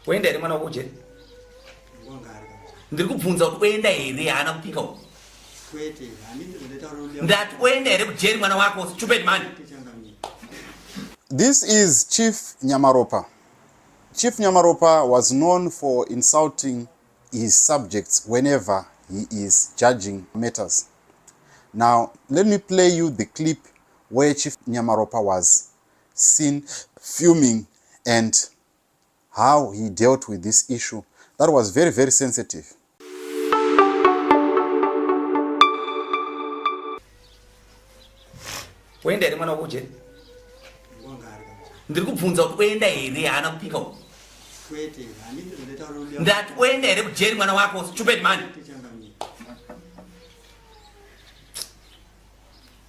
Oenda here mwana wako jeri? Ndiri kubvunza kuti oenda here haana kupika uko. Ndati oenda here kujeri mwana wako stupid man. This is Chief Nyamaropa. Chief Nyamaropa was known for insulting his subjects whenever he is judging matters. Now, let me play you the clip where Chief Nyamaropa was seen fuming and how he dealt with this issue that was very very sensitive. Wenda here mwana wekuje? Ndiri kubvunza kuti oenda here haana kupika uku? Kwete, handiti ndataura kuti ndati oenda here kujeri mwana wako stupid man.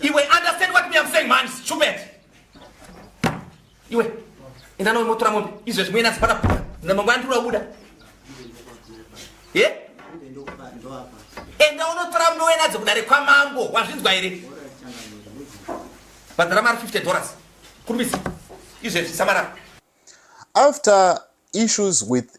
iwe understand what me am saying man stupid iwe enda nawe motora mombe izvezvi muye nasi pana bhora na mangwana ndiri wabuda ye enda unotora muno wenadzo kudare kwamambo wazvinzwa here bhadhara mari 50 dollars kurumbisa izvezvi samarara after issues with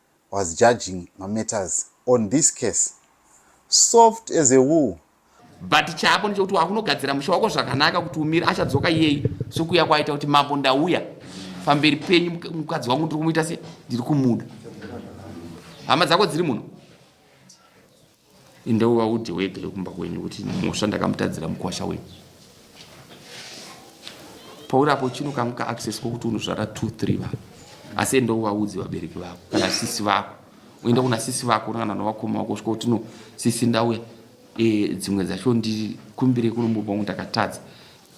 was judging mametters on this case soft as a wool but chako ndechekuti wakunogadzira musha wako zvakanaka kuti umire achadzoka iyeyi sokuya kwaita kuti mambo ndauya pamberi penyu mukadzi wangu ndiri kumuita se ndiri kumuda hama dzako dziri muno Enda uvaudze wega vekumba kwenyu kuti mhosva ndakamutadzira mukwasha wenyu. Pauri apo chino kangu kaaccess kokuti unozvara two three vanhu asi enda uvaudze vabereki vako kana sisi vako uenda kuna sisi vako kana novakoma vako svika kuti no sisi ndauya e, dzimwe dzacho ndikumbire kunomupa ungu ndakatadza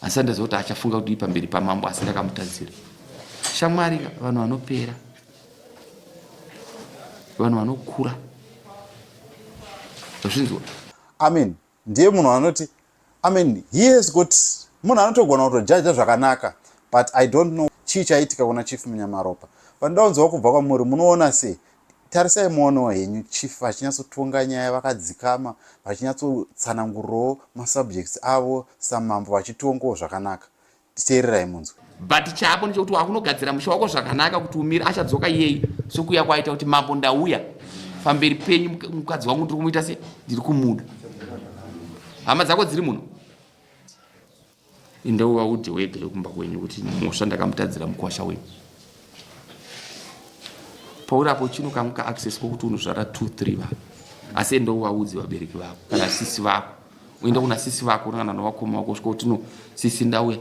asi andaziva kuti achafunga kudii pamberi pamambo asi ndakamutadzira shamwari vanhu vanopera vanhu vanokura azvinzwa amen ndiye munhu anoti amen he has got munhu anotogona kutojaja zvakanaka but i don't know chii chaitika kuna chief munyamaropa vanoda kunzwa kubva kwamuri munoona sei tarisai muonewo henyu chief vachinyatsotonga nyaya vakadzikama vachinyatsotsanangurirawo masubjects avo samambo vachitongawo zvakanaka titeererai munzwe but chako nechekuti wakunogadzira musha wako zvakanaka kuti umire achadzoka iyei sokuya kwaita kuti mambo ndauya pamberi penyu mukadzi wangu ndiri kumuita se ndiri kumuda hama dzako dziri muno indovaudze wega yokumba kwenyu kuti mhosva ndakamutadzira mukwasha wenyu paurapo chino kangu kaaccess kokuti unozvara 2 3 vako asi enda uvaudze vabereki vako kana sisi vako uenda kuna sisi vako kana novakoma vako svika kuti no sisi ndauya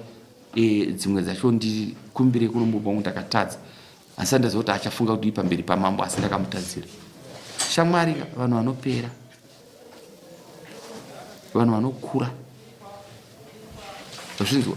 e, dzimwe dzacho ndikumbire kunomupa wangu ndakatadza asi andaziva kuti achafunga kuti ipamberi pamambo asi ndakamutadzira shamwari vanhu vanopera vanhu vanokura vazvinzwa